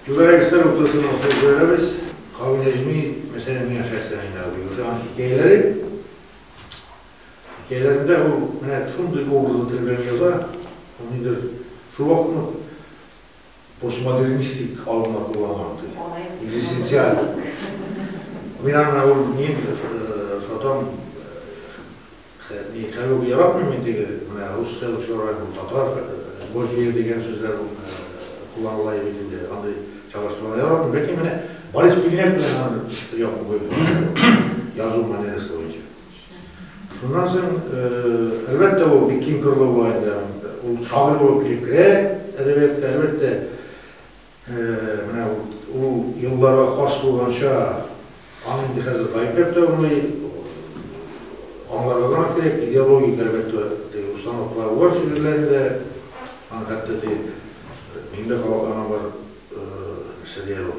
Түгәрәгестә рухлысының сәүдәләребез кабул итми, мәсәлән, миңа шәхсән инде абый ошаган хикәяләре. Хикәяләрендә ул менә шундый образлы тел белән яза, ул нидер шул вакытны постмодернистик алымнар кулланган ди, экзистенциаль. Мин аны ул мин шатам Хе, мин хәзер үк яратмыйм мин теге, менә русская ученая бу, татар, божье дигән сүзләр кулланыла иде бит инде, андый чагыштырулар яратмыйм, ләкин менә Борис Пигнәт белән аны бер якын куеп карагыз, язу манерасы буенча. Шуннан соң, әлбәттә, ул бик киң кырлы була инде аның, ул шагыйрь булып килеп керә әдәбиятка, әлбәттә, Менә ул елларга хас булганча, аны инде хәзер гаепләп тә булмый. Аңларга гына кирәк, идеологик, әлбәттә, теге установкалар бар шигырьләрендә. Аны хәтта теге миндә кабатланган бер нәрсә дә бар.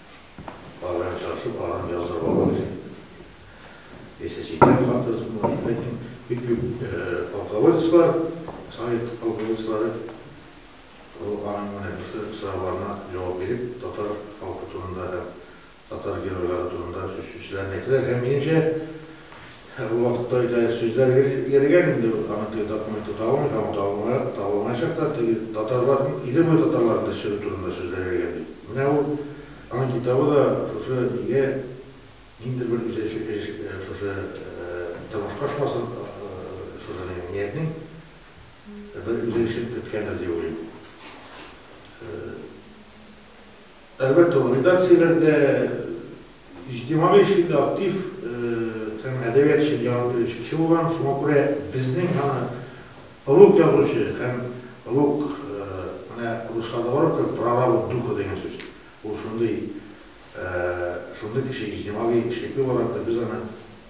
Алар очрашу планын яздырып алу өчен яисә чикләү хакы язылмаган, ләкин бик күп полководецлар, совет полководецлары аның менә шушы сорауларына җавап биреп, татар халкы турында һәм татар геройлары турында сүз сүзләрен әйтәләр һәм минемчә, Һәр вакытта да сүзләр йөрегән инде ул, аныкы тапмый тота алмый һәм ул табылмаячак та, теге татарларның, иле буе татарларын төшерү турында сүзләр йөрегән бит. Менә ул, аның китабы да шушы илгә ниндидер бер үзенчәлекле өлеш шушы тормышка ошмасын, шушы минем ниятнең бер үзенчәлек керткәндер дип уйлыйм. Әлбәттә, ул редакцияләрдә, иҗтимагый эшчән дә, актив һәм әдәбият өчен җан бирүче кеше булган. Шуңа күрә безнең аны олуг язучы һәм олуг, менә русларда бар бит ул прорабы духа дигән сүз, ул шундый, шундый кеше, иҗтимагый эшлекле буларак та без аны,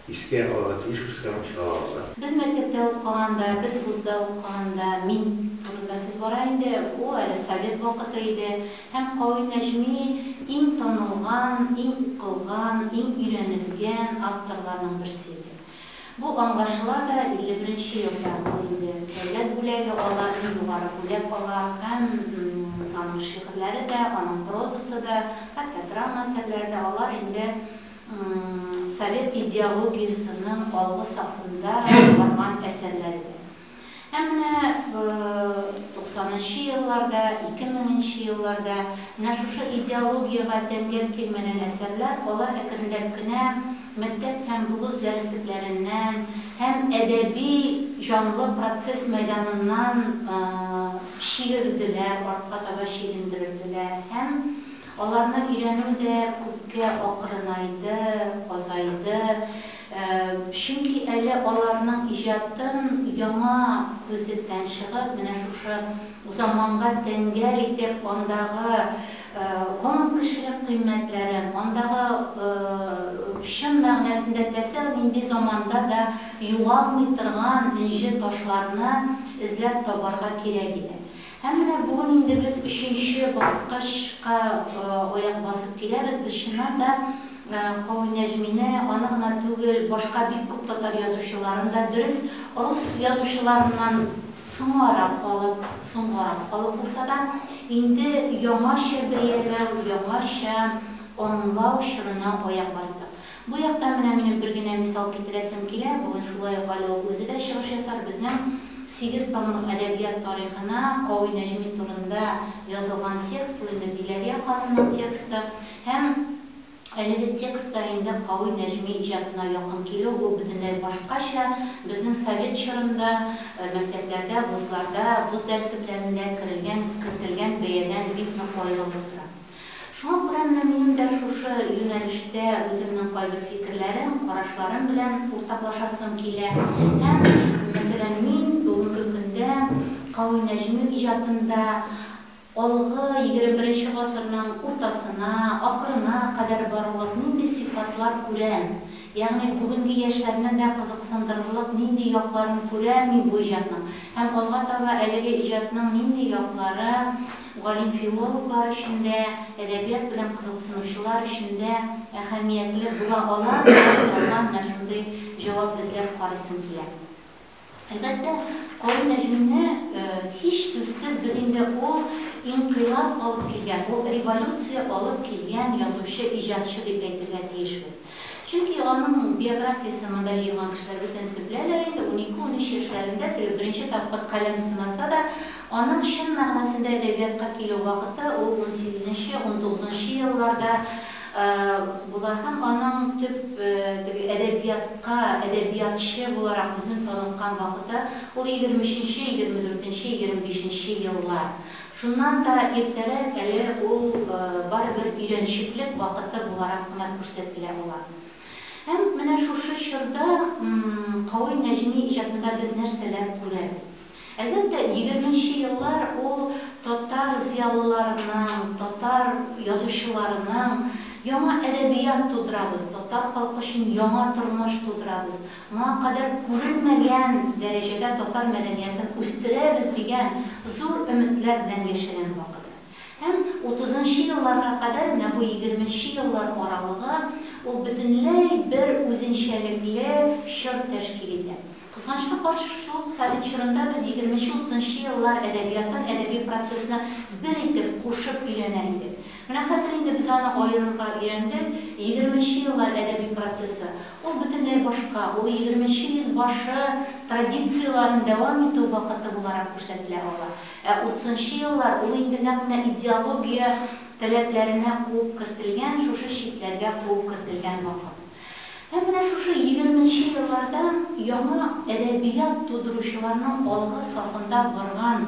Искә алырга тиеш кыскарынып чыга алса. Без мәктәптә укыганда, без вузда укыганда, мин турында сүз бара инде, ул әле совет вакыты иде һәм Кави Нәҗми иң танылган, иң укылган, иң өйрәнелгән авторларның берсе иде. Бу аңлашыла да 51 елда, ул инде дәүләт бүләге ала, иң югары бүләк ала һәм аның шигырьләре дә, аның прозасы да, хәтта драма әсәрләре дә, алар инде. совет идеологиясенең алгы сафында барган әсәрләр иде. Ә менә туксанынчы елларда, ике меңенче елларда менә шушы идеологиягә тәңгәл килмәгән әсәрләр, алар әкренләп кенә мәктәп һәм вуз дәреслекләреннән һәм әдәби җанлы процесс мәйданыннан чиерделәр, артка таба чигендерелделәр һәм, Аларны өйрәнү дә күпкә акрынайды, азайды, чөнки әле аларның иҗатын яңа күзлектән чыгып, менә шушы заманга тәңгәл итеп, андагы гомум кешелек кыйммәтләрен, андагы чын мәгънәсендә тәсәү нинди заманда да югалмый торган энҗе ташларны эзләп табарга кирәк иде. Һәм менә бүген инде без өченче баскычка аяк басып киләбез. Без чыннан да Кави Нәҗмине, аны гына түгел, башка бик күп татар язучыларын да, дөрес, рус язучыларыннан соңарак калып, соңгарак калып булса да, инде яңача бәяләү, яңача аңлау чорына аяк бастык. Бу яктан менә минем бер генә мисал китерәсем килә, бүген шулай ук әле ул үзе дә чыгыш ясар, безнең сигез томлык әдәбият тарихына Кави Нәҗми турында язылган текст, ул инде Диләрия ханымның тексты һәм әлеге текст та инде Кави Нәҗми иҗатына якын килү, ул бөтенләй башкача, безнең совет чорында мәктәпләрдә, вузларда, вуз дәрсепләрендә керелгән, кертелгән бәядән бик нык аерылып тора. Шуңа күрә менә минем дә шушы юнәлештә үземнең кайбер фикерләрем, карашларым белән уртаклашасым килә һәм, мәсәлән, мин бүгенге көндә Кави Нәҗми иҗатында алгы егерме беренче гасырның уртасына, ахырына кадәр барырлык нинди сыйфатлар күрәм, ягъни бүгенге яшьләрне дә кызыксындырырлык нинди якларын күрәм мин бу иҗатның һәм алга таба әлеге иҗатның нинди яклары, галим-филологлар өчен дә, әдәбият белән кызыксынучылар өчен дә әһәмиятле була ала, дигән сорауга менә шундый җавап эзләп карыйсым килә. Әлбәттә, Карим Нәҗмине, һичсүзсез, без инде ул инкыйлаб алып килгән, ул революция алып килгән язучы, иҗатчы дип әйтергә тиешбез. Чөнки аның биографиясен монда җыелган кешеләр бөтенесе беләләр инде, унике-унөч яшьләрендә теге беренче тапкыр каләм сынаса да, аның чын мәгънәсендә әдәбиятка килү вакыты ул унсигезенче, унтугызынчы елларда була һәм аның төп теге әдәбиятка әдәбиятчы буларак үзен таныткан вакыты ул егерме өченче, егерме дүртенче, егерме бишенче еллар. Шуннан да иртәрәк әле ул барыбер өйрәнчеклек вакыты буларак кына күрсәтелә ала. Һәм менә шушы чорда Кави Нәҗми иҗатында без нәрсәләр күрәбез? Әлбәттә, егерменче еллар ул татар зыялыларының, татар язучыларының яңа әдәбият тудырабыз, татар халкы өчен яңа тормыш тудырабыз, Моңа кадәр күрелмәгән дәрәҗәдә татар мәдәниятен үстерәбез дигән зур өметләр белән яшәгән вакыты. Һәм утызынчы елларга кадәр, менә бу егерменче еллар аралыгы, ул бөтенләй бер үзенчәлекле чор тәшкил итә. Кызганычка каршы, шул ук совет чорында без егерменче-утызынчы еллар әдәбиятын, әдәби процессны бер итеп кушып өйрәнә идек. Менә хәзер инде без аны аерырга өйрәндек. Егерменче еллар әдәби процессы, ул бөтенләй башка, ул егерменче йөз башы традицияләрен дәвам итү вакыты буларак күрсәтелә ала. Ә утызынчы еллар, ул инде нәкъ менә идеология таләпләренә куып кертелгән, шушы чикләргә куып кертелгән вакыт. Һәм менә шушы егерменче елларда яңа әдәбият тудыручыларның алгы сафында барган,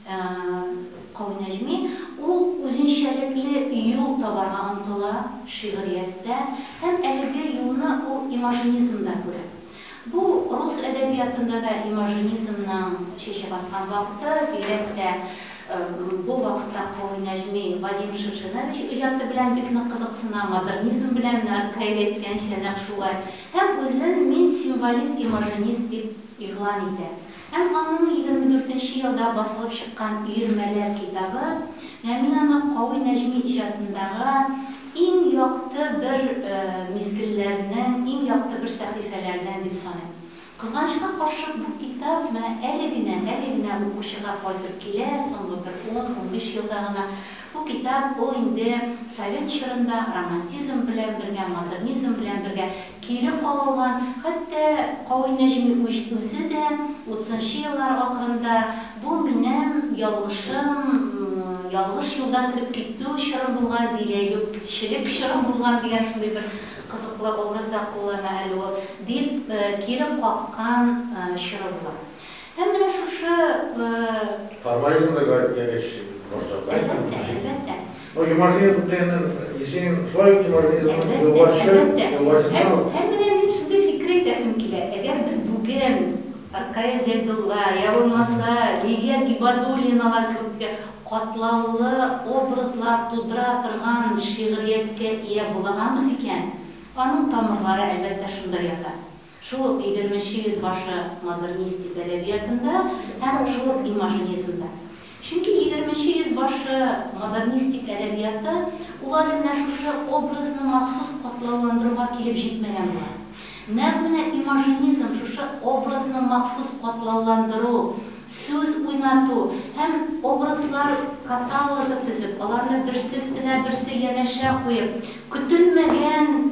Кави Нәҗми, ул үзенчәлекле юл табарга омтыла шигърияттә һәм әлеге юлны ул имажинизмда күрә. Бу рус әдәбиятында да имажинизмның чәчәк аткан вакыты, бигрәк тә бу вакытта Кави Нәҗми Вадим Шевченович иҗаты белән бик нык кызыксына, модернизм белән, Наркаев әйткәнчә, нәкъ шулай, һәм үзен мин символист-имажинист дип игълан итә. Һәм аның егерме дүртенче елда басылып чыккан Өермәләр китабы, Ләмин аны Кави Нәҗми иҗатындагы иң якты бер мизгелләрнең, иң якты бер сәхифәләрнең дип саный. Кызганычка каршы, бу китап менә әле генә, әле генә укучыга кайтып килә, соңгы бер ун-унбиш елда гына Бу китап, ул инде совет чорында романтизм белән бергә, модернизм белән бергә кире кагылган, хәтта Кави Нәҗми үзе дә утызынчы еллар ахырында бу минем ялгышым, ялгыш юлдан кереп китү чорым булган, зиләюкчелек чорым булган дигән шундый бер кызыклы образ да куллана әле ул, дип кире каккан чоры була. Һәм менә шушы. Формализм да гаеп дигәч башларга. Әлбәттә, әлбәттә. Ну, имажинизм дигәннән, исең шулай ук имажинизмның юлбашчы, юлбашчысы ул. Һәм менә мин шундый фикер әйтәсем килә, әгәр без бүген Ркая Зәйдулла, я булмаса Лилия Гибадуллиналар кебекле катлаулы образлар тудыра торган шигърияткә ия була амыз икән, аның тамырлары, әлбәттә, шунда ята. Шул ук егерменче йөз башы модернистик әдәбиятында һәм шул ук имажинизмда. Чөнки егерменче йөз башы модернистик әдәбияты улар менә шушы образны махсус катлауландыруга килеп җитмәгән була. Нәкъ менә имажинизм шушы образны махсус катлауландыру, сүз уйнату һәм образлар каталогы төзеп, аларны берсе өстенә берсе янәшә куеп, көтелмәгән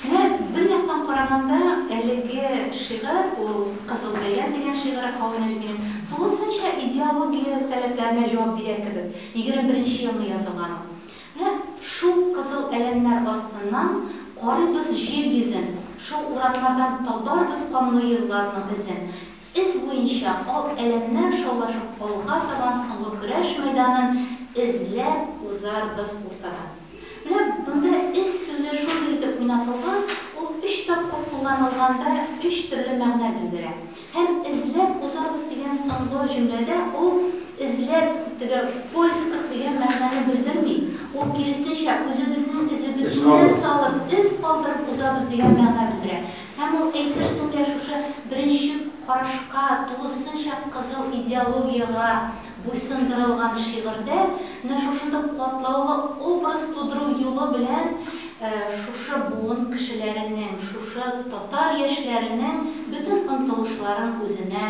Менә бер яктан караганда, әлеге шигырь, ул Кызыл бәя дигән шигыре Хауинаҗминың, тулысынча идеология таләпләренә җавап бирә кебек. Егерме беренче елны язылган ул. Менә шул кызыл әләмнәр астыннан карыйбыз җир йөзен, шул урамнардан табарбыз канлы елларның эзен. Эз буенча ал әләмнәр шаулашып алга табан соңгы көрәш мәйданын эзләп узарбыз уртадан. Менә монда эз сүзе шундый итеп уйнатылган, ул өч тапкыр кулланылганда өч төрле мәгънә белдерә. Һәм эзләп узабыз дигән соңгы җөмләдә ул эзләп, теге в поисках дигән мәгънәне белдерми, ул киресенчә, үзебезнең эзебезне салып, эз калдырып узабыз дигән мәгънә белдерә. Һәм ул, әйтерсең лә, шушы беренче карашка тулысынча кызыл идеологиягә буйсындырылган шигырьдә менә шушындый катлаулы образ тудыру юлы белән шушы буын кешеләренең, шушы татар яшьләренең бөтен омтылышларын үзенә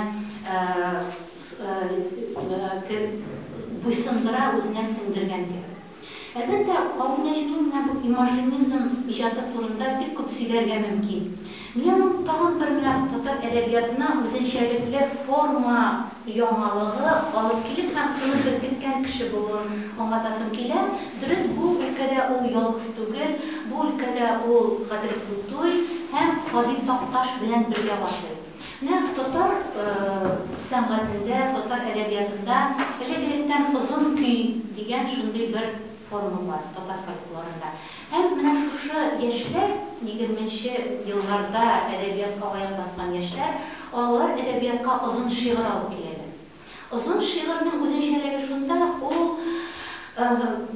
буйсындыра, үзенә сеңдергән кебек. Әлбәттә, Кари Нәҗми менә бу имажинизм иҗаты турында бик күп сөйләргә мөмкин. Мин аның тагын бер менә татар әдәбиятына үзенчәлекле форма яңалыгы алып килеп һәм шуны беркеткән кеше булуын аңлатасым килә. Дөрес, бу өлкәдә ул ялгыз түгел, бу өлкәдә ул Гадел Култуй һәм Һади Такташ белән бергә башлый. Нәкъ татар сәнгатендә, татар әдәбиятында элек-электән озын көй дигән шундый бер форма бар, татар фольклорында. Һәм менә шушы яшьләр, егерменче елларда әдәбиятка аяк баскан яшьләр, алар әдәбиятка озын шигырь алып киләләр. Озын шигырьнең үзенчәлеге шунда, ул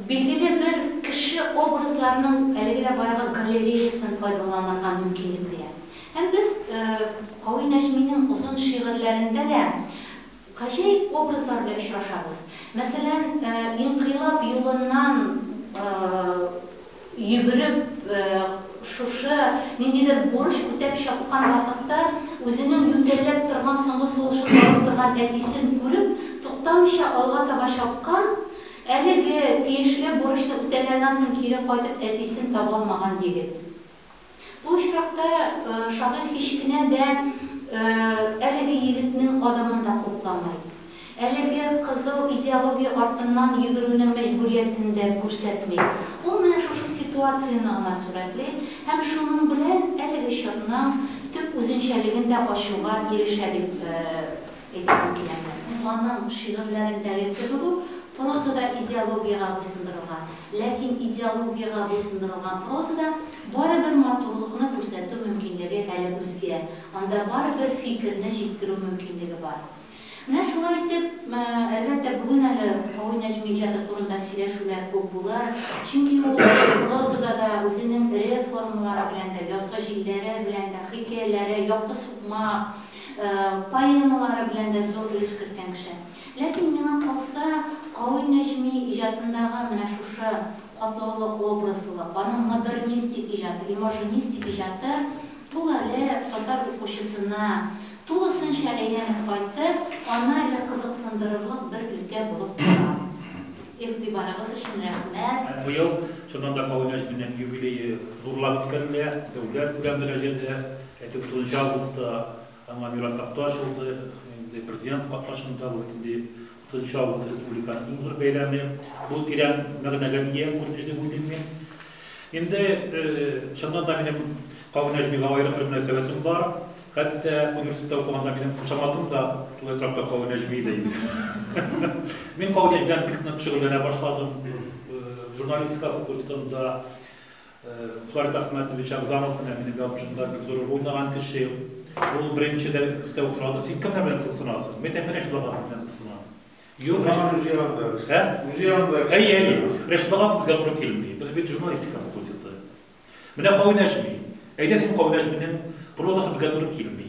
билгеле бер кеше образларының әлеге дә бардык галереясын файдаланырга мөмкинлек бирә. Һәм без Кави Нәҗминең озын шигырьләрендә дә гаҗәеп образлар белән очрашабыз. Мәсәлән, инкыйлаб юлыннан Йөгереп, шушы, ниндидер бурыч үтәп чапкан вакытта, үзенең ютәлләп торган соңгы сулышын алып торган әтисен күреп, туктамыйча алга таба чапкан, әлеге тиешле бурычны үтәгәннән соң кире кайтып әтисен табалмаган егет. Бу очракта шагыйрь һич кенә дә әлеге егетнең адымын да хупламый, әлеге кызыл идеология артыннан йөгерүнең мәҗбүриятен дә күрсәтми. Ул менә шушы ситуацияне гына сурәтли һәм шуның белән әлеге чорның төп үзенчәлеген дә ачуга ирешә дип әйтәсем килә иде. Аның шигырьләрендәге кебек үк, проза да идеологиягә буйсындырылган. Ләкин идеологиягә буйсындырылган прозада барыбер матурлыкны күрсәтү мөмкинлеге әле үзгә, анда барыбер фикерне җиткерү мөмкинлеге бар. Менә шулай итеп, әлбәттә, бүген әле Һави Нәҗми иҗаты турында сөйләшүләр күп булыр, чөнки ул прозада да үзенең эре формалары белән дә, язгы җилләре белән дә, хикәяләре, Якты сукмак, Поэмалары белән дә зур өлеш керткән кеше. Ләкин миңа калса, Кави Нәҗми иҗатындагы менә шушы катлаулы образлылык, аның модернистик иҗаты, имажинистик иҗаты ул әле татар укучысына тулысынча әйләнеп кайтып, аны әле кызыксындырырлык бер өлкә булып тора. Игътибарыгыз өчен рәхмәт. Быел, чыннан да, Кави Нәҗминең юбилее зурлап үткәрелә, дәүләт белән мөрәҗәдә Әйтеп үтүенчә, августта аңа мирас такта ачылды. Инде президент катнашында бу бит инде 30 август республиканың иң зур бәйрәме. Бу тирән мәгънәгә ия күренеш дип уйлыйм мин. Инде чыннан да минем Кавы Нәҗмигә аерым бер мөнәсәбәтем бар. Хәтта университетта укыганда минем кушаматым да шул этрапта Кавы Нәҗми иде инде. Мин Кавы Нәҗмидән бик нык шөгыльләнә башладым. Журналистика факультетында Фларит Әхмәтович Әгъзамов менә минем язмышымда бик зур роль уйнаган кеше. Ул беренче дә өстәү сорады, син кемнәр белән кызыксынасың? Мин әйтәм, Рәшит Баганов белән кызыксынам. Юк, Рәшит үзе янында. Ә? Үзе янында. Әйе, әйе. Рәшит Баганов безгә туры килми. Без бит журналистика факультеты. Менә Кавиляш Әйдә син Кавиляш минем прозасы безгә туры килми.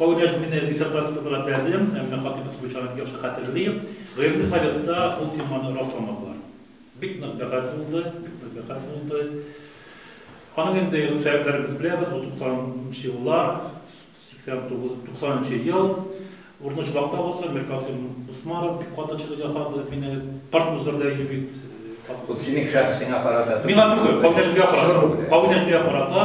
Кавнәш мине диссертация тотарга теләдем, әмма Хатыйпов Гөлчанәне яхшы хәтерлим, гыйльми советта ул теманы расламадылар. Бик нык бәхәс булды, бик нык бәхәс булды. Аның инде сәбәпләребез беләбез, ул 90нчы еллар, 89, 90нчы ел. Урыны чыбакта булса, Миркасыйм Усманов бик каты чыгыш ясады, мине парт уздырды әйе бит. Бу синең шәхесеңә карата түгел. Миңа түгел, Кавнәшгә карата. Кавнәшгә карата.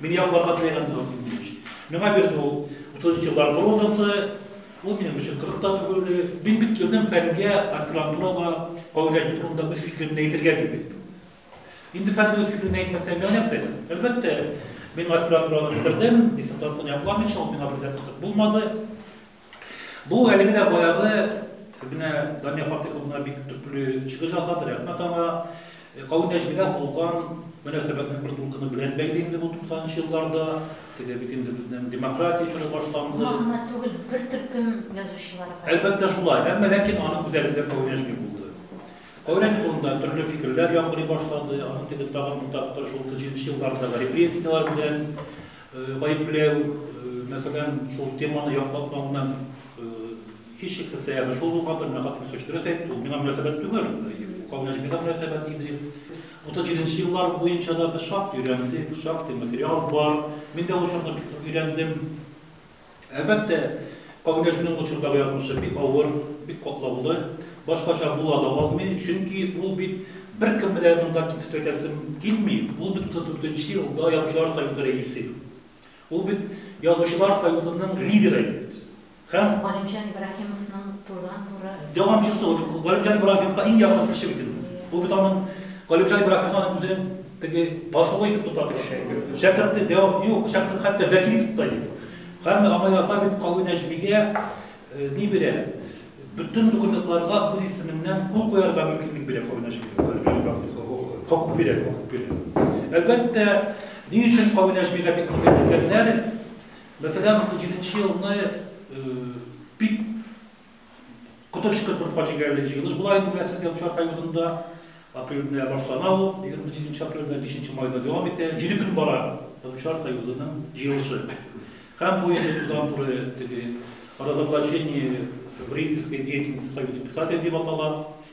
Мин яклар катнайган булам синең белән. Миңа бит ул 30 еллар прозасы, ул минем өчен кызык та түгел. Мин бит килдем фәнгә, аспирантурага, кагыйдәче турында үз фикеремне әйтергә дип килдем. Инде фәндә үз фикеремне әйтмәсәм, миңа нәрсә әйтер? Әлбәттә, мин аспирантураны бетердем, диссертацияне якламыйча, ул миңа бер дә кызык булмады. Бу әлеге дә баягы менә Дания Фатыйховна бик төпле чыгыш ясады, рәхмәт аңа. Кавын нәҗмидә булган мөнәсәбәтнең бер дулкыны белән бәйле инде бу 90 нчы елларда. Теге бит инде безнең демократия чоры башланды. Моңа гына түгел, бер төркем язучылар бар. Әлбәттә шулай, әмма ләкин аның үзәгендә Кавын нәҗми булды. Кавын нәҗми турында төрле фикерләр яңгырый башлады, аның теге тагын бер тапкыр шул 90 нчы еллардагы репрессияләр белән Гаепләү, мәсәлән, шул теманы яклатмау белән һичшиксез сәбәбе шул булган, менә хатын кеше дөрес әйтте, ул миңа мөнәсәбәт түгел, Кавын Нәҗмигә мөнәсәбәт иде. 37 нче еллар буенча да без шактый өйрәндек, шактый материал бар. Мин дә ул чорны бик нык өйрәндем. Әлбәттә, Кагыйдәшнең ул чордагы язмышы бик авыр, бик катлаулы. Башкача була да алмый, чөнки ул бит беркем белән монда кимсетәкәсем килми, ул бит 34 нче елда Язучылар союзы рәисе, ул бит Язучылар союзының лидеры бит һәм. Галимҗан Ибраһимовның турыдан-туры. Дәвамчысы, ул Галимҗан Ибраһимовка иң якын кеше бит ул. Ул бит аның, Галимҗан Ибраһимовның үзенең. Теге басулы итеп тота торучы егет. Шәкерте дә юк, шәкерт хәтта вәкил итеп тота иде. Һәм аңа яза бит Кави Нәҗмигә ни бирә? Бөтен документларга үз исеменнән кул куярга мөмкинлек бирә Кави Нәҗмигә. Хокук бирә, хокук бирә. Әлбәттә, ни өчен Кави Нәҗмигә бик күп әйтелгәннәр? Мәсәлән, 37 нче елны бик Коточкыч бер фаҗигале җыелыш була инде, беләсез, Язучылар союзында. Апрельдә башлана ул, 28 апрельдә, 5 майда дәвам итә. Җиде көн бара Язучылар союзының җыелышы. Һәм бу инде турыдан-туры теге Разоблачение вредительской деятельности Союза писателей дип атала.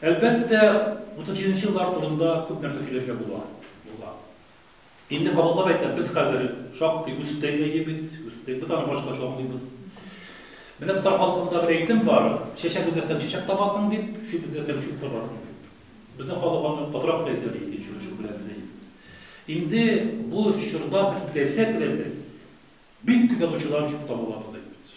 Әлбәттә, 37 нче еллар турында күп нәрсә сөйләргә була. Була. Инде кабатлап әйтәм, без хәзер шактый үстек әйе бит, үстек. Без аны башкача аңлыйбыз. Менә татар халкында бер әйтем бар, чәчәк эзләсәң чәчәк табасың дип, чүп эзләсәң чүп табасың дип. Безнең халык аны катырак та әйтә, ди, чүп белән эзли. Инде бу чорда без теләсә-теләсә бик күп язучылар чүп таба алабыз, ди.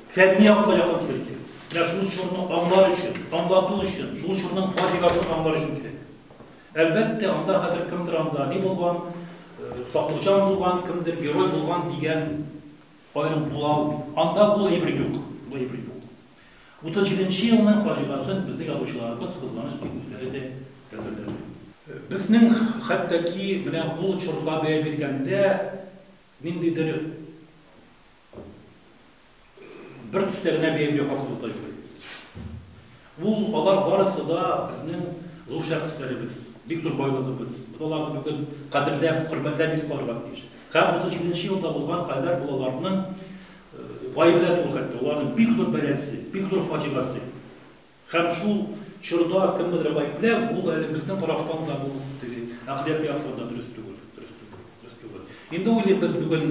Фәнни якка якын килеп керик. Менә шул чорны аңлар өчен, аңлату өчен, шул чорның фаҗигасын аңлар өчен килик. Әлбәттә, анда хәзер кемдер анда ни булган, Саклыкҗан булган, кемдер герой булган дигән аерым була алмый. Анда бу әйбер юк, бу әйбер юк. 37 нче елның фаҗигасын безнең язучыларыбыз, кызганыч дип, үзләре дә әзерләми. Безнең хәтта ки менә ул чорга бәя биргәндә ниндидер бер төстә генә биергә хакылы тоймый. Ул алар барысы да безнең зур шәхесләребез, бик зур байлыгыбыз. Без аларны бүген кадерләп, хөрмәтләп искә алырга тиеш. Һәм 37 елда булган хәлләр бу аларның гаебе дә түгел хәтта, аларның бик зур бәласе, бик зур фаҗигасе. Һәм шул чорда кемнедер гаепләү, ул әле безнең тарафтан да бу теге әхлак яктан да дөрес түгел, дөрес түгел, дөрес түгел. Инде уйлыйм, без бүген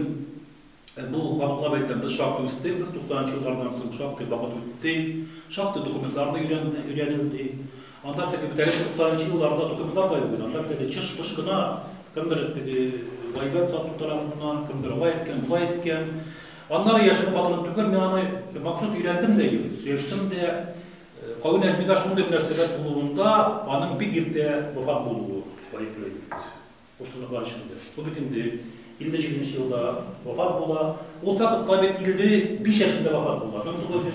бу катлаулап әйтәм, без шактый үстек, без 90 нчы еллардан соң шактый вакыт үтте, шактый документлар да өйрәнде, өйрәнелде. Анда теге бит әле 90 нчы елларда документлар да юк иде, анда бит әле чыш-пыш кына, кемдер теге гайбәт сату тарафыннан, кемдер алай әйткән, болай әйткән. Аннары яшереп атылып түгел, мин аны махсус өйрәндем дә инде, сөештем дә. Кави Нәҗмигә шундый мөнәсәбәт булуында аның бик иртә вафат булуы гаепле иде бит. Куштанлыклар эчендә. Ул бит инде 57 нче елда вафат була. Ул факт кабит 55 яшендә вафат була. 1900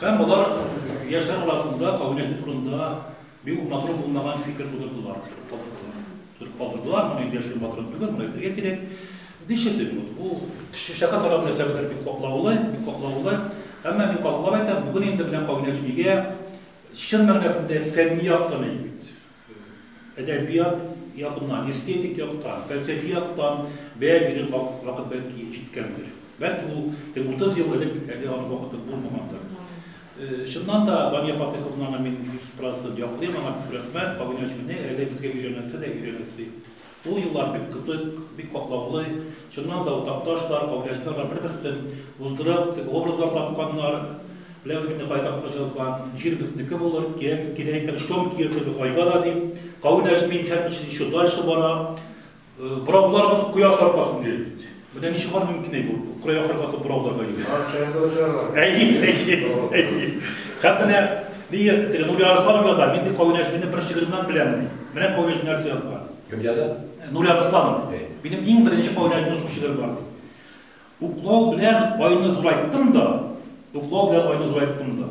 Һәм болар яшьләр арасында кабинет турында бик матур булмаган фикер тудырдылар, төреп калдырдылар, моны инде яшьләр матур түгел, моны әйтергә кирәк. Ничектер бу, бу шешә катарга нәрсә белән бик катлаулы, бик катлаулы. Әмма мин катлап әйтәм, бүген инде белән кабинет бигә чын мәгънәсендә фәнни яктан әйбит. Әдәбият ягыннан, эстетик яктан, фәлсәфи яктан бәя бирер вакыт бәлки җиткәндер. Бәлки ул теге 30 ел элек әле аның вакыты булмагандыр. Чыннан да Дания Фатыйховнаны мин 100 процент яклыйм, аңа күп рәхмәт, кавемиячене әле безгә өйрәнәсе дә өйрәнәсе. Ул юллар бик кызык, бик катлаулы. Чыннан да, ул Такташлар, Каулиәчеләр бар, бер-берсен уздырып, теге образлар тапканнар. Беләбез бит инде кая Такташ язган, Җир безнеке булыр, кирәк, кирәк икән, шом киертер без айга да, дип. Кавын әчми, имчәк эчми, еще дальше бара. Борауларыбыз кояш аркасында йөри бит. Менә ничек бар мөмкин әй бу? Украй ахыр касы бурауда бай. Бар чәйдә очарга. Әй, әй, әй. Хәп менә ни теге Нури Арсланов яза, мин ди кавынәш мине бер шигыремнан беләм. Менә кавынәш нәрсә язган. Кем яза? Нури Арсланов. Минем иң беренче кавынәш минем шул шигырем бар. Уклау белән айны зурайттым да, уклау белән айны зурайттым да.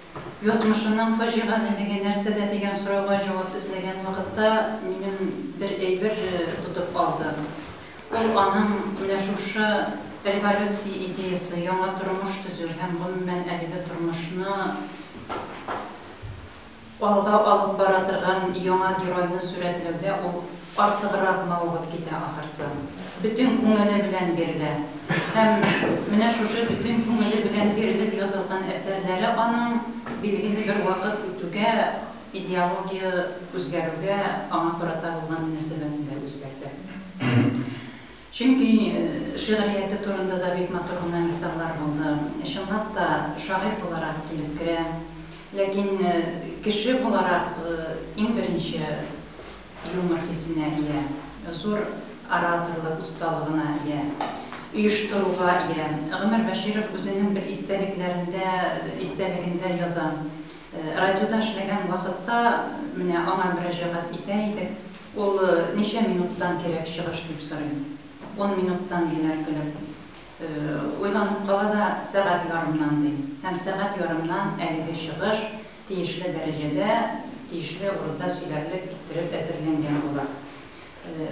Язмышының фаҗигалелеге нәрсәдә дигән сорауга җавап эзләгән вакытта минем бер әйбер тотып алды. Ул аның менә шушы революция идеясе, яңа тормыш төзү һәм гомумән әлеге тормышны алга алып бара торган яңа геройны сурәтләүдә ул Артыграк мавыгып китә ахырсы. Бөтен күңеле белән бирелә. Һәм менә шушы бөтен күңеле белән бирелеп язылган әсәрләре аның билгеле бер вакыт үтүгә, идеология үзгәрүгә аңа карата булган мөнәсәбәтен дә үзгәртә. Чөнки шигърияте турында да бик матур гына мисаллар булды. Чынлап та, шагыйрь буларак килеп керә. Ләкин кеше буларак иң беренче юмор хисенә ия, зур ораторлык осталыгына ия, оештыруга ия. Гомәр Бәширов үзенең бер истәлекләрендә, истәлегендә яза, Радиода эшләгән вакытта, менә аңа мөрәҗәгать итә идек, Ул, Ничә минуттан кирәк чыгыш? дип сорый. Ун минуттан, ди Нәркөлем. Уйланып кала да, Сәгать ярымнан, ди. Һәм сәгать ярымнан әлеге чыгыш тиешле дәрәҗәдә, тиешле урында сөйләрлек иттереп әзерләнгән була.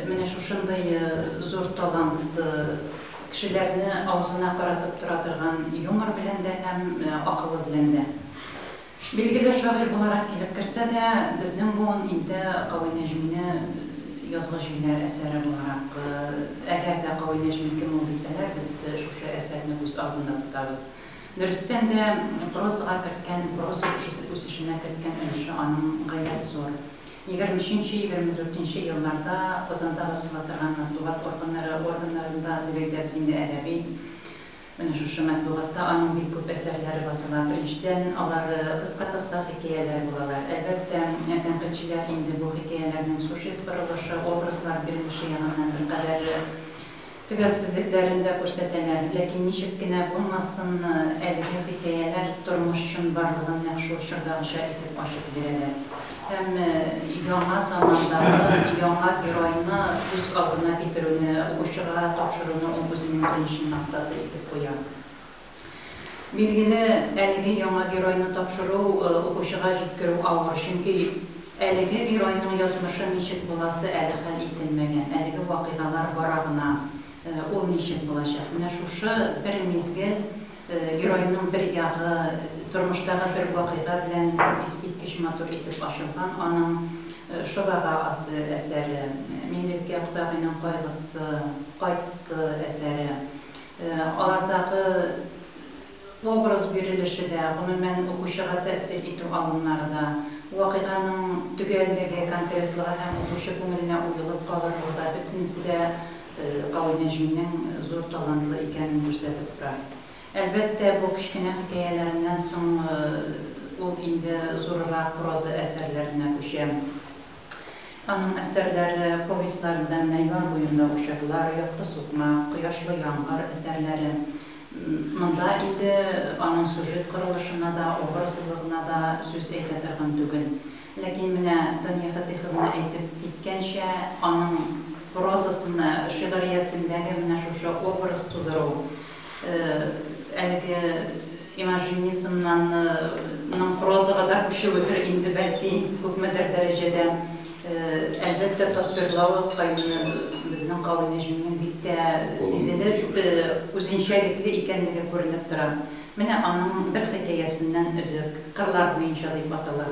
Менә шушындый зур талант кешеләрне авызына каратып тора торган юмор белән дә һәм акылы белән дә. Билгеле шагыйрь буларак килеп керсә дә, безнең буын инде Кави Нәҗмине Язгы җилләр әсәре буларак, әгәр дә Кави Нәҗми кем ул дисәләр, без шушы әсәрне күз алдында тотабыз. Дөрестән дә, прозага керткән, проза үсешенә керткән өлеше аның гаять зур. Егерме өченче, егерме дүртенче елларда Казанда басыла торган матбугат органнары органнарында дип әйтәбез инде, әдәби, Менә шушы матбугатта аның бик күп әсәрләре басыла. Беренчедән, алар кыска-кыска хикәяләр булалар. Әлбәттә, тәнкыйтьчеләр инде бу хикәяләрнең сюжет корылышы, образлар бирелеше ягыннан беркадәр төгәлсезлекләрен дә күрсәтәләр. Ләкин ничек кенә булмасын, әлеге хикәяләр тормыш чынбарлыгын нәкъ шул чордагыча итеп ачып бирәләр. һәм яңа замандагы яңа геройны күз алдына китерүне укучыга тапшыруны ул үзенең беренче максаты итеп куя. Билгеле, әлеге яңа геройны тапшыру укучыга җиткерү авыр, чөнки әлеге геройның язмышы ничек буласы әле хәл ителмәгән, әлеге вакыйгалар бара гына, ул ничек булачак? Менә шушы бер мизгел Геройның бер ягы тормыштагы бер вакыйга белән искиткеч матур итеп ачылган, аның Шорага асы әсәре, Миңлеккә кодагыйның кайгысы, Кайтты әсәре. Алардагы образ бирелеше дә, гомумән, укучыга тәэсир итү алымнары да, вакыйганың төгәллеге, конкретлыгы һәм укучы күңеленә уелып калырлыгы да, бөтенесе дә Кавы Нәҗминең зур талантлы икәнен күрсәтеп тора. Әлбәттә, бу кечкенә хикәяләреннән соң ул инде зуррак проза әсәрләренә күчә. Аның әсәрләре, повестьларында Нәймар буенда учарлар, Якты сукмак, Кояшлы яңгыр әсәрләре. Монда инде аның сюжет корылышына да, образлылыгына да сүз әйтә торган түгел. Ләкин менә Дания Фатыйховна әйтеп киткәнчә, аның прозасында, шигъриятендәге менә шушы образ тудыру, әлеге имажинизмнан ның прозага да күчүедер инде, бәлки, күпмедер дәрәҗәдә, әлбәттә, тасвирлавы каюны безнең Кави Нәҗминең бик тә сизелеп, үзенчәлекле икәнлеге күренеп тора. Менә аның бер хикәясеннән өзек, Кырлар буенча дип атала.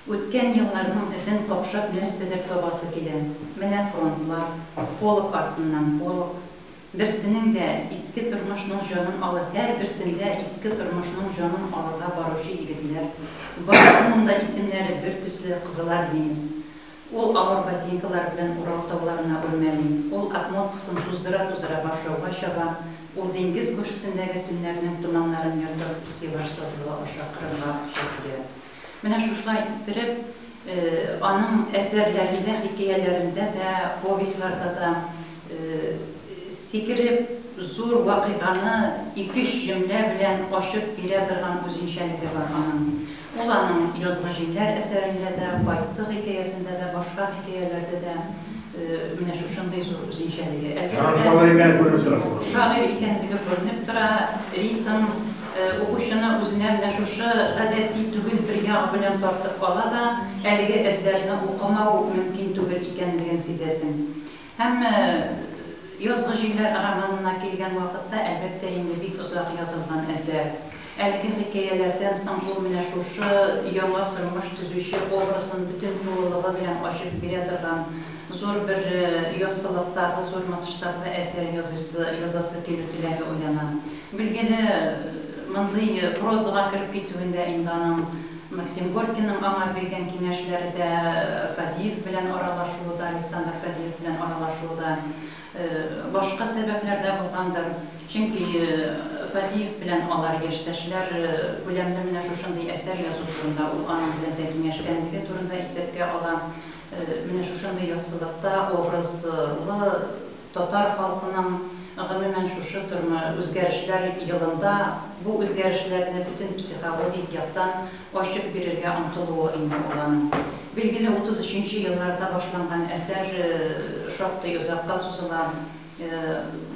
Үткән елларның эзен капшап нәрсәдер табасы килә. Менә фронтлар, полк артыннан полк. Берсенең дә иске тормышның җанын алы Һәрберсендә иске тормышның җанын алырга баручы егетләр. Барысының да исемнәре бертөсле, кызылармеец. Ул авыр ботинкалар белән Урал тауларына үрмәли, ул обмоткасын туздыра-туздыра Варшавага чаба, ул диңгез күршесендәге төннәрнең томаннарын ертып, Севаш сазлыгы аша Кырымга оча килә. Менә шушылай иттереп, аның әсәрләрендә, хикәяләрендә дә, повестьларда да сикереп, зур вакыйганы ике-өч җөмлә белән ачып бирә торган үзенчәлеге бар аның. Ул аның Язгы җилләр әсәрендә дә, Байтты хикәясендә дә, башка хикәяләрдә дә менә шушындый зур үзенчәлеге. Әлбәттә, шагыйрь икәнлеге күренеп тора, ритм укучыны үзенә менә шушы гадәти түгел бер ягы белән тартып ала да, әлеге әсәрне укымау мөмкин түгел икәнлеген сизәсең. Һәм Язгы җилләр романына килгән вакытта, әлбәттә инде, бик озак язылган әсәр. Әлеге хикәяләрдән соң ул менә шушы яңа тормыш төзүче образын бөтен тулылыгы белән ачып бирә торган зур бер яссылыктагы, зур масштаблы әсәр языйсы, язасы килү теләге уяна. Билгеле, мондый прозага кереп китүендә инде аның Максим Горькийның аңа биргән киңәшләре дә, Фадеев белән аралашуы да, Александр Фадеев белән аралашуы да башка сәбәпләр дә булгандыр. Чөнки Фадеев белән алар яшьтәшләр күләмле менә шушындый әсәр язу турында, ул аның белән дә киңәшкәнлеге турында исәпкә ала. Менә шушындый яссылыкта образлы Татар халкының, гомумән, шушы тормы үзгәрешләр елында бу үзгәрешләрне бөтен психологик яктан ачып бирергә омтылуы инде ул аның. Билгеле, 33 нче елларда башланган әсәр шактый озакка сузыла.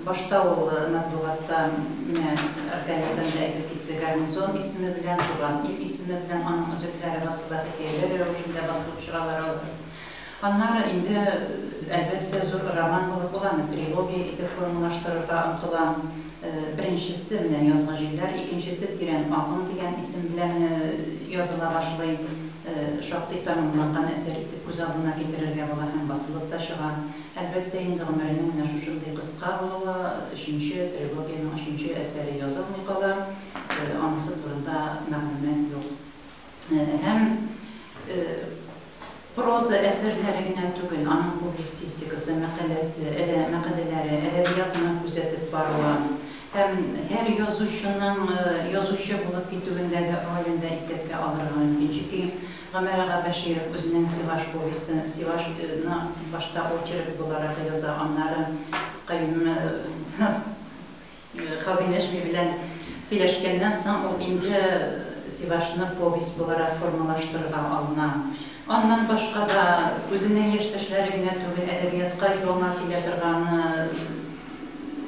Башта ул матбугатта, менә Аркадийдан да әйтеп китте, гарнизон исеме белән, Туган ил исеме белән аның өзекләре басыла, хикәяләр рәвешендә басылып чыгалар алар. Аннары инде, әлбәттә, зур роман булып ул аны трилогия итеп формалаштырырга омтыла. Беренчесе, менә Язгы җилләр, икенчесе Тирән агым дигән исем белән языла башлый. Шактый тәмамланган әсәр итеп күз алдына китерергә була һәм басылып та чыга. Әлбәттә инде, гомеренең менә шушындый кыска булуы ла өченче трилогиянең өченче әсәре язылмый кала, анысы турында мәгълүмат юк. һәм проза әсәрләре генә түгел, аның публистистикасы, мәкаләсе, әле мәкаләләре, әдәбиятына күзәтеп баруы һәм һәр язучының язучы булып китүендәге ролен дә исәпкә алырга мөмкин. Чөнки Гомәр ага Бәширов үзенең Сиваш повестен, Сивашны башта очерк буларак яза, аннары каюм Хавинешви белән сөйләшкәннән соң, ул инде Сивашны повесть буларак формалаштырырга алына. Аннан башка да, үзенең яшьтәшләре генә түгел, әдәбиятка яңа килә торган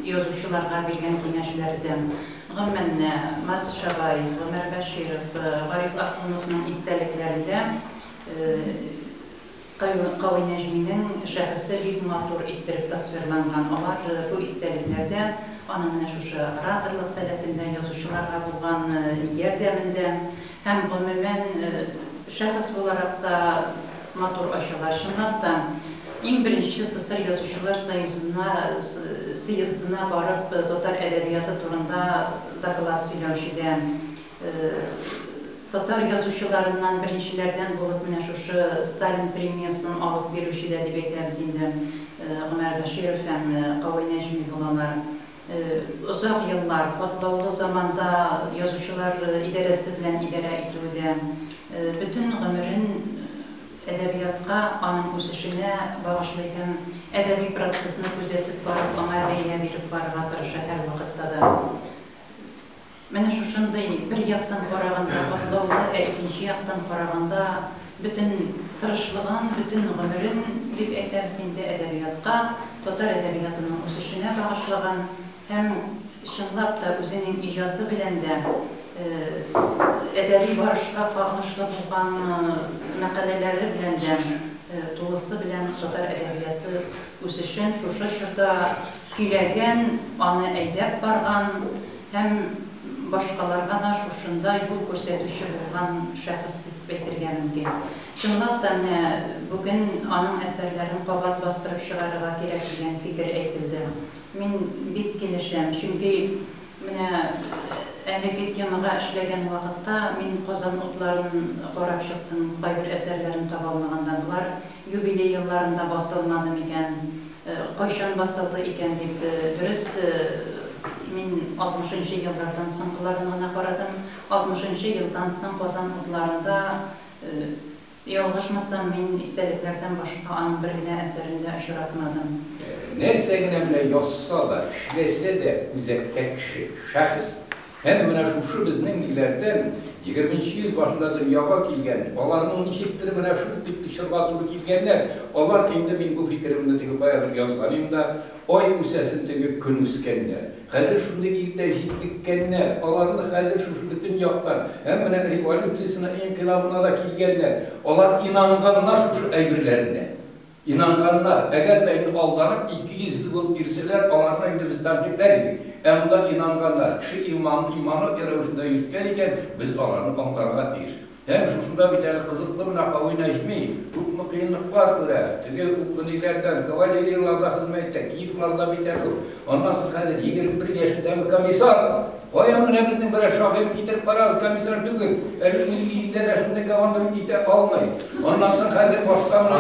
язучыларга биргән киңәшләрдән, гомумән, Марс Шабаев, Гомәр Бәширов, Гариф Ахуновның истәлекләрендә, Каюм-Кави Нәҗминең шәхесе бик матур иттереп тасвирланган. Алар, бу истәлекләрдә, аның менә шушы ораторлык сәләтендә, язучыларга булган ярдәмендә һәм, гомумән, шәхес буларак та матур ачыла. Чынлап та, иң беренче СССР Язучылар союзына, сыездына барып, татар әдәбияты турында доклад сөйләүче дә, Татар язучыларыннан беренчеләрдән булып менә шушы Сталин премиясен алып бирүче дә дип әйтәбез инде, Гомәр Бәширов һәм Кавый Нәҗми булалар. Озак еллар, катлаулы заманда язучылар идарәсе белән идарә итүедә, бөтен гомерен әдәбиятка, аның үсешенә багышлый һәм әдәби процессны күзәтеп барып, аңа бәя биреп барырга тырыша һәрвакытта да. Менә шушындый, бер яктан караганда катлаулы, ә икенче яктан караганда бөтен тырышлыгын, бөтен гомерен, дип әйтәбез инде, әдәбиятка, татар әдәбиятының үсешенә багышлаган һәм, чынлап та, үзенең иҗаты белән дә әдәби барышка кагылышлы булган мәкаләләре белән дә тулысы белән татар әдәбияты үсешен шушы чорда көйләгән, аны әйдәп барган, Һәм башкаларга да шушында юл күрсәтүче булган шәхес дип әйтергә мөмкин. Чынлап та, менә бүген аның әсәрләрен кабат бастырып чыгарырга кирәк дигән фикер әйтелде. Мин бик килешәм, чөнки менә әлеге темага эшләгән вакытта мин Казан утларын карап чыктым, кайбер әсәрләрен таба алмаганда. Болар. Юбилей елларында басылмады микән? Кайчан басылды икән дип, дөрес, мин алтмышынчы еллардан соңгыларын гына карадым. Алтмышынчы елдан соң Казан утларында, ялгышмасам, мин истәлекләрдән башка аның бер генә әсәрен дә очратмадым. Нәрсә генә менә язса да, эшләсә дә, үзәктә кеше, шәхес. Һәм менә шушы безнең ниләрдән егерменче йөз башында дөньяга килгән, аларның ничектер менә шул тикле чорга туры килгәннәр, алар инде, мин бу фикеремне теге каядыр язган идем дә, ай үсәсен теге көн үскәннәр. Хәзер шундый иртә җитлеккәннәр, аларны хәзер шушы бөтен яктан, һәм менә революциясенә, инкыйлабына да килгәннәр, алар инанганнар шушы әйберләренә. Инанганнар, әгәр дә инде алданып ике йөзле булып йөрсәләр, аларны инде без тәнкыйтьләр идек. Ә монда инанганнар, кеше иманын иманлы рәвешендә йөрткән икән, без аларны аңларга тиеш. Һәм шушында бит әле кызыклы менә Кави Нәҗми, күпме кыенлыклар күрә, теге Укъниләрдән, кавалерияларда хезмәт итә, Киевларда бит әле ул. Аннасы хәзер егерме бер яшендәге комиссар! Каян менә безнең берәр шагыйрьне китереп карагыз, комиссар түгел, әле үз өендә дә шундый гавандыр итә алмый. Аннасы хәзер башка менә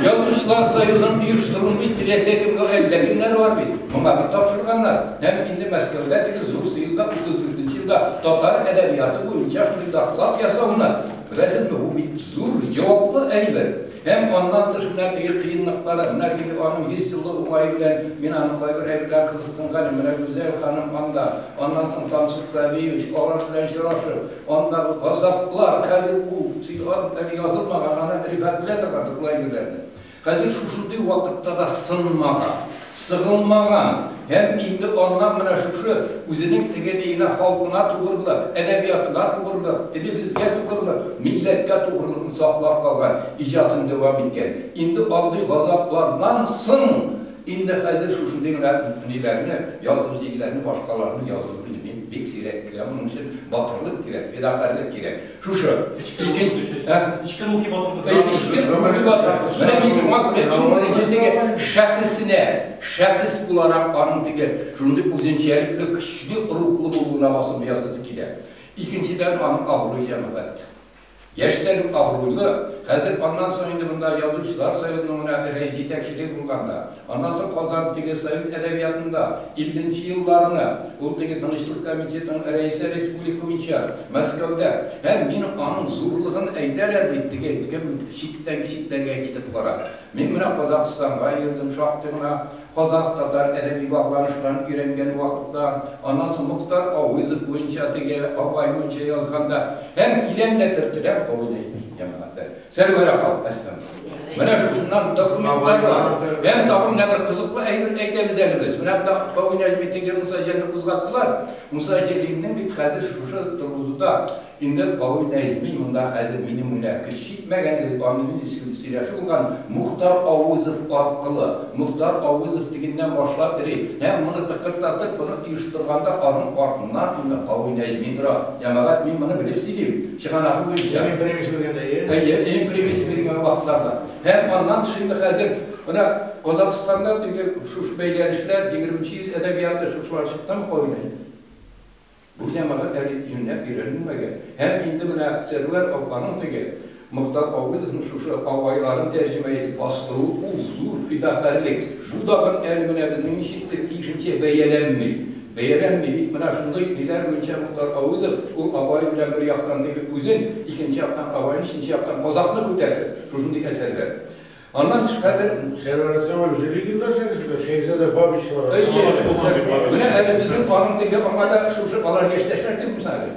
Язучылар союзын оештыру бит теләсә кемгә әллә кемнәр бар бит. Моңа бит тапшырганнар. Һәм инде Мәскәүдә теге зур сыйныфта утыз дүртенче елда татар әдәбияты буенча шундый доклад ясауны, беләсезме, бу бит зур җаваплы әйбер. Һәм аннан тыш менә теге кыенлыклары, менә теге аның йөз еллык уңае белән мин аны кайбер әйберләр кызыксынган идем, менә Гүзәл ханым анда, аннан соң Тансык Вәлиевич, алар белән очрашып, андагы газаплар, хәзер ул сыйлар әле язылмаган, аны Рифат беләдер бардыр ул әйберләрне. Хәзер шушындый вакытта да сынмаган. Сыгылмаган һәм инде аннан менә шушы үзенең тегелегенә халкына тугрылык, әдәбиятына тугрылык, телебезгә тугрылык, милләткә тугрылыкны саклап калган иҗатын дәвам иткән. Инде андый газаплардан соң инде хәзер шушы ниләрне, язгы җилләрне, башкаларны язу инде бик сирәк килә. Моның өчен батырлык кирәк, фидакарьлек кирәк. Шушы. Эчке рухи төзүчелек. Ә? Эчке рухи батырлык. Эчке рухи батырлык. Менә мин шуңа күрә иң беренче теге шәхеснә, шәхес буларак аның теге шундый үзенчәлекле көчле рухлы булуына басым ясыйсы килә. Икенчедән, аның абруе әбәт. Яшьтән үк абруйлы. Хәзер аннан соң инде монда язучылар союзының гына берәй җитәкчелеге булганда, Анасы Казан теге совет әдәбиятында иллнче елларны, ул теге Тынычлык комитетының рәисе республика буенча Мәскәүдә, һәм мин аның зурлыгын әйтәр әле бит, теге кем читтән читләргә китеп кара. Мин менә Казакъстанга йөрдем шактый гына, казакъ-татар әдәби багланышларын өйрәнгән вакытта, анасы Мохтар Авызов буенча теге, Абай буенча язганда, һәм киләм дә төртеләм, кабул итмим, җәмәгать бер. Сәрвәр апа, әстәгъфирулла. Менә шушыннан документлар бар. Һәм тагын менә бер кызыклы әйбер әйтәбез әле без. Менә монда Кавы Нәҗметдингә Муса Җәлилне кузгаттылар. Муса Җәлилнең бит хәзер шушы торгызуда инде Кавы Нәҗми монда хәзер минем уйла көч җитмәгән дип аны сөйләшү булган Мухтар Авызов аркылы. Мухтар Авызов дигәннән башлап йөри. Һәм моны тыкырдатып, моны оештырганда аның артыннан инде Кавы Нәҗми тора. Җәмәгать, мин моны белеп сөйлим. Чыганагы буенча. Иң беренче белгәндә, ие? Әйе, иң беренче белгән вакытларда. Һәм аннан тыш инде хәзер, менә Казакъстанда теге шушы бәйләнешләр, егерменче йөз әдәбияты, шушылар чыккан ук алай инде. Бу җәмәгать әле юньләп өйрәнелмәгән. Һәм инде менә Сәрвәр апаның теге, Мохтар Гавыйловның шушы абайларын тәрҗемә итеп бастыруы, ул зур фидакарьлек. Бу тагын әле менә безнең ничектер тиешенчә бәяләнми. Бәяләр ни бит менә шундый, ниләр буенча Мохтар Авызов, ул Абай белән бер яктан теге үзен, икенче яктан Абайны, өченче яктан казакны күтәрде, шушындый әсәрләр. Аннан тыш хәзер. Сәер Радиогамал үзе легендар сәгыйфәсе, Шәехзадә Бабичлар, Алаш Булган дип атыйлар. Менә әле безнең аның теге аңа да шушы алар яшьтәшләр түгелме соң әле?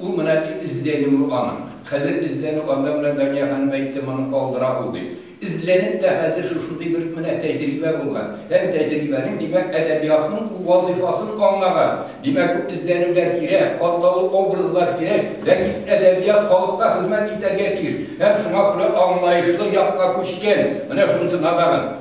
Ул менә эзләнү ул аның. Хәзер эзләнү анда менә Дания ханым әйтте, моны калдыра ул дип. Эзләнеп тә хәзер шушындый бер менә тәҗрибә булган. Һәм тәҗрибәнең, димәк, әдәбиятның ул вазыйфасын аңлаган. Димәк, бу эзләнүләр кирәк, катлаулы образлар кирәк. Ләкин әдәбият халыкка хезмәт итәргә тиеш. Һәм шуңа күрә аңлаешлы якка күчкән. Менә шунысы надаган.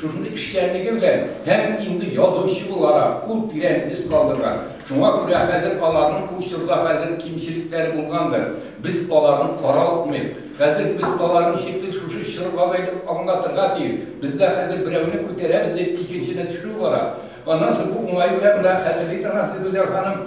Шушындый кешеләрне гөрләп һәм инде язучы буларак ул тирән эз калдырган. Шуңа күрә хәзер аларның ул чорда хәзер кимчелекләре булгандыр. Без аларны каралтмыйк. Хәзер без аларны ничектер шушы чорга бәйләп аңлатырга тиеш. Бездә хәзер берәүне күтәрәбез дип икенчене төшерү бара. Аннан соң бу уңай белән менә хәзерге транслируйдер ханым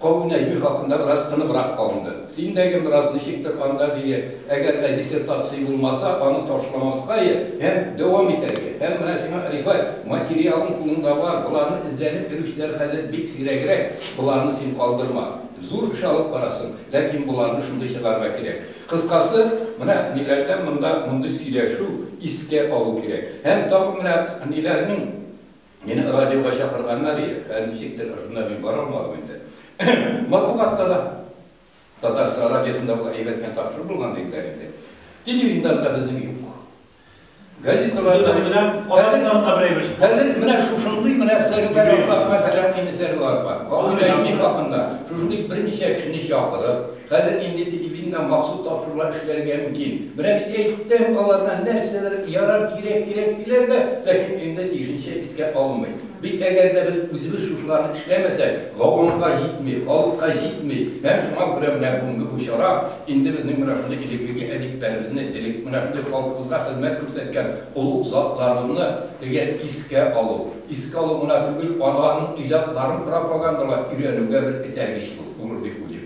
Кавы Нәҗми хакында бераз тыныбрак калынды. Син дә гел бераз ничектер анда, дөя, әгәр дә диссертация булмаса, аны ташламаска йә, һәм дәвам итәргә. Һәм менә сиңа, Рифат, материалың кулыңда бар, боларны эзләнеп йөрүчеләр хәзер бик сирәгрәк, боларны син калдырма. Зур эш алып барасың, ләкин боларны шундый чыгарырга кирәк. Кыскасы, менә ниләрдән монда мондый сөйләшү, искә алу кирәк. Һәм тагын менә ниләрнең Мине радиога чакырганнар иде, ә ничектер шунда мин бара алмадым инде. Матбугатта да, Татарстан радиосында була әйбәт кенә тапшыру булган диделәр инде. Телевидениеда да безнең юк. Газеталарда менә алардан да берәй бер. Хәзер менә шушындый менә сәрүгәр апа, мәсәлән, инде сәрүгәр апа. Гавиләҗни хакында шушындый берничә кешене чакырып, Хәзер инде телевидениедә махсус тапшырулар эшләргә мөмкин. Менә бит әйттем, аларга нәрсәдер ярар, кирәк, кирәк диләр дә, ләкин өендә тиешенчә искә алынмый. Бит әгәр дә без үзебез шушыларны эшләмәсәк, гавамга җитми, халыкка җитми. Һәм шуңа күрә менә бүгенге бу чара, инде безнең менә шундый элеккеге әдипләребезне, элек менә шундый халкыбызга хезмәт күрсәткән олуг затларыбызны теге искә алу. Искә алу гына түгел, аларның иҗатларын пропагандалап, өйрәнүгә бер этәргеч булыр дип уйлыйм.